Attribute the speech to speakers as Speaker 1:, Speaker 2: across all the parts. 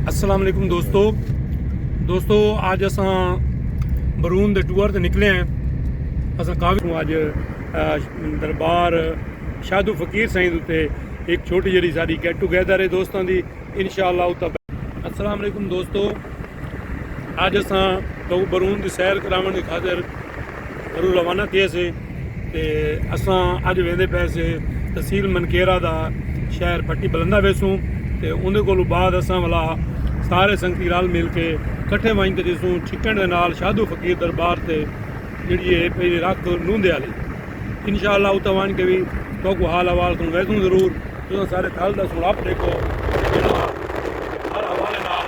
Speaker 1: السلام علیکم دوستو دوستو آج اساں برون دے ٹور تے نکلے ہیں اساں کافی ہوں آج دربار شادو فقیر سائیں دوتے ایک چھوٹی جڑی ساری گیٹ ٹو گیدر ہے دوستان دی انشاءاللہ اتا السلام علیکم دوستو آج اساں تو برون دی سیر کراون دی خاطر گھروں روانہ تھئے سے تے اساں اج ویندے پئے سے تحصیل منکیرہ دا شہر پٹی بلندہ ویسوں تے اوندے کولوں بعد اساں ولا سارے سنگتی رل مل کے کٹھے ونج تے جیسوں چھکن دے نال شادو فقیر دربار تے جیڑی اے پہلی رکھ نوندے آلی انشاءاللہ اتھاں ونج کے وی توکو حال احوال سن ویسوں ضرور تساں سارے تھل دا سن اپ ڈیکھو تے جیڑا ہر حوالے نال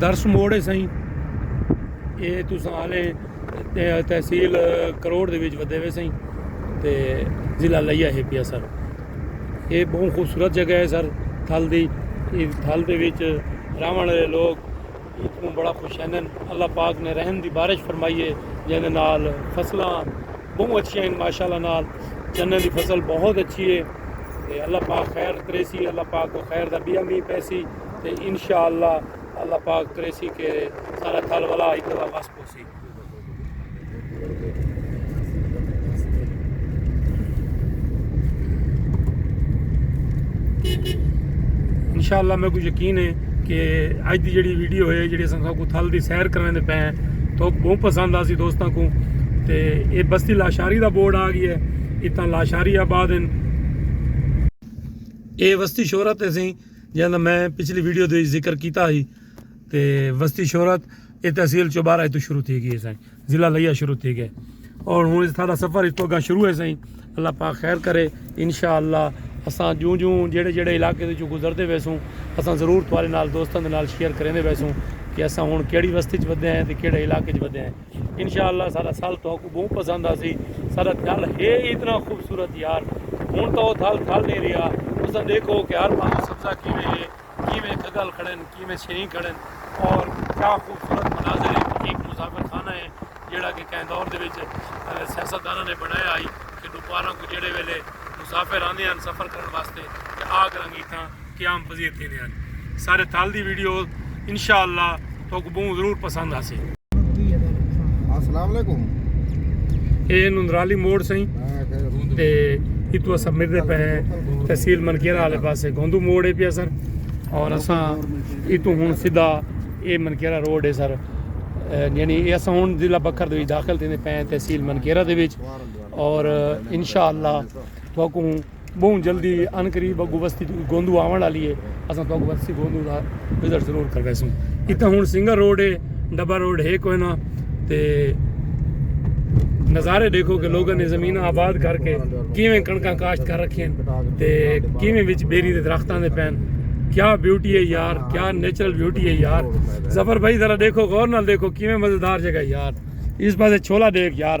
Speaker 1: درس موڑ ہے سائیں اے تساں آلے تحصیل کروڑ دے وچ ودے ویسیں تے ضلع لیا ہے پیا سر یہ بہت خوبصورت جگہ ہے سر تھل دی اس تھل دے وچ راون والے لوگ اتنوں بڑا خوش ہیں اللہ پاک نے رحم دی بارش فرمائی ہے جن نال فصلاں بہت اچھی ہیں ماشاءاللہ نال چنے دی فصل بہت اچھی ہے تے اللہ پاک خیر کریسی اللہ پاک کو خیر دا بیا می پیسی تے انشاءاللہ اللہ پاک کریسی کہ سارا تھل والا ایتھے واپس انشاءاللہ میں کو یقین ہے کہ اج دی جڑی ویڈیو ہے جڑی اساں کو تھل دی سیر کرنے دے پے ہیں تو بہت پسند آسی دوستاں کو تے اے بستی لاشاری دا بورڈ آ گیا ہے اتنا لاشاری آباد ہیں اے وستی شہرت ہے سی جہاں میں پچھلی ویڈیو دے ذکر کیتا ہی تے وستی شہرت اے تحصیل چوبارہ اتو شروع تھی گئی سائیں ضلع لیا شروع تھی گئے اور ہوں اس تھا سفر اس تو گا شروع ہے سائیں اللہ پاک خیر کرے انشاءاللہ اساں جوں جوں جڑے جڑے علاقے دے جو گزردے ویسوں اساں ضرور تھوارے نال دوستاں دے نال شیئر کریں دے ویسوں کہ اساں ہوں کیڑی وستی چ ودے ہیں تے کیڑے علاقے چ ودے ہیں انشاءاللہ سارا سال تو کو بہت پسند آسی سارا تھل ہے اتنا خوبصورت یار ہوں تو تھل تھل نہیں رہا اساں دیکھو کہ ہر پاسوں سبزہ کیویں ہے کیویں گھگل کھڑن، کیویں چھریں کھڑن اور کیا خوبصورت مناظر ہیں۔ ایک مسافر خانہ ہے جیڑا کہ کہیں دور دے وچ سیاست داناں نے بنڑایا ہئی کہ ڈوپاراں کوں جیڑے ویلے مسافر آندے ہن سفر کرن واسطے تے آ کر انگیٹھاں قیام پذیر تھیندے ہن۔ سارے تھل دی ویڈیو انشاءاللہ۔ توک بہوں ضرور پسند آسے
Speaker 2: السلام علیکم
Speaker 1: اے نندرالی موڑ سائیں تے اتو اسا مردے پہ تحصیل منکیرہ والے پاسے گوندو موڑ اے پیا سر اور اسا اتو ہن سیدھا اے منکیرہ روڈ اے سر یعنی اے اسا ہن ضلع بکر دے وچ داخل تھیندے پے تحصیل منکیرہ دے وچ اور انشاءاللہ توکوں بہوں جلدی عن قریب اگو وستی توں گوندو آون آلی اے اساں تہاکوں وستی گوندو دا وزٹ ضرور کرویسوں اتھاں ہن سنگر روڈ اے ڈبہ روڈ ہے کوئ نہ تے نظارے ڈیکھو کہ لوگاں نے زمیناں آباد کر کے کیویں کڑکاں کاشت کر رکھیں تے کیویں وچ بیری دے درختاں دے پین کیا بیوٹی ہے یار کیا نیچرل بیوٹی ہے یار زفر بھائی ذرا دیکھو غور نال دیکھو کیویں مزیدار جگہ یار اس پاسے چھولا دیکھ یار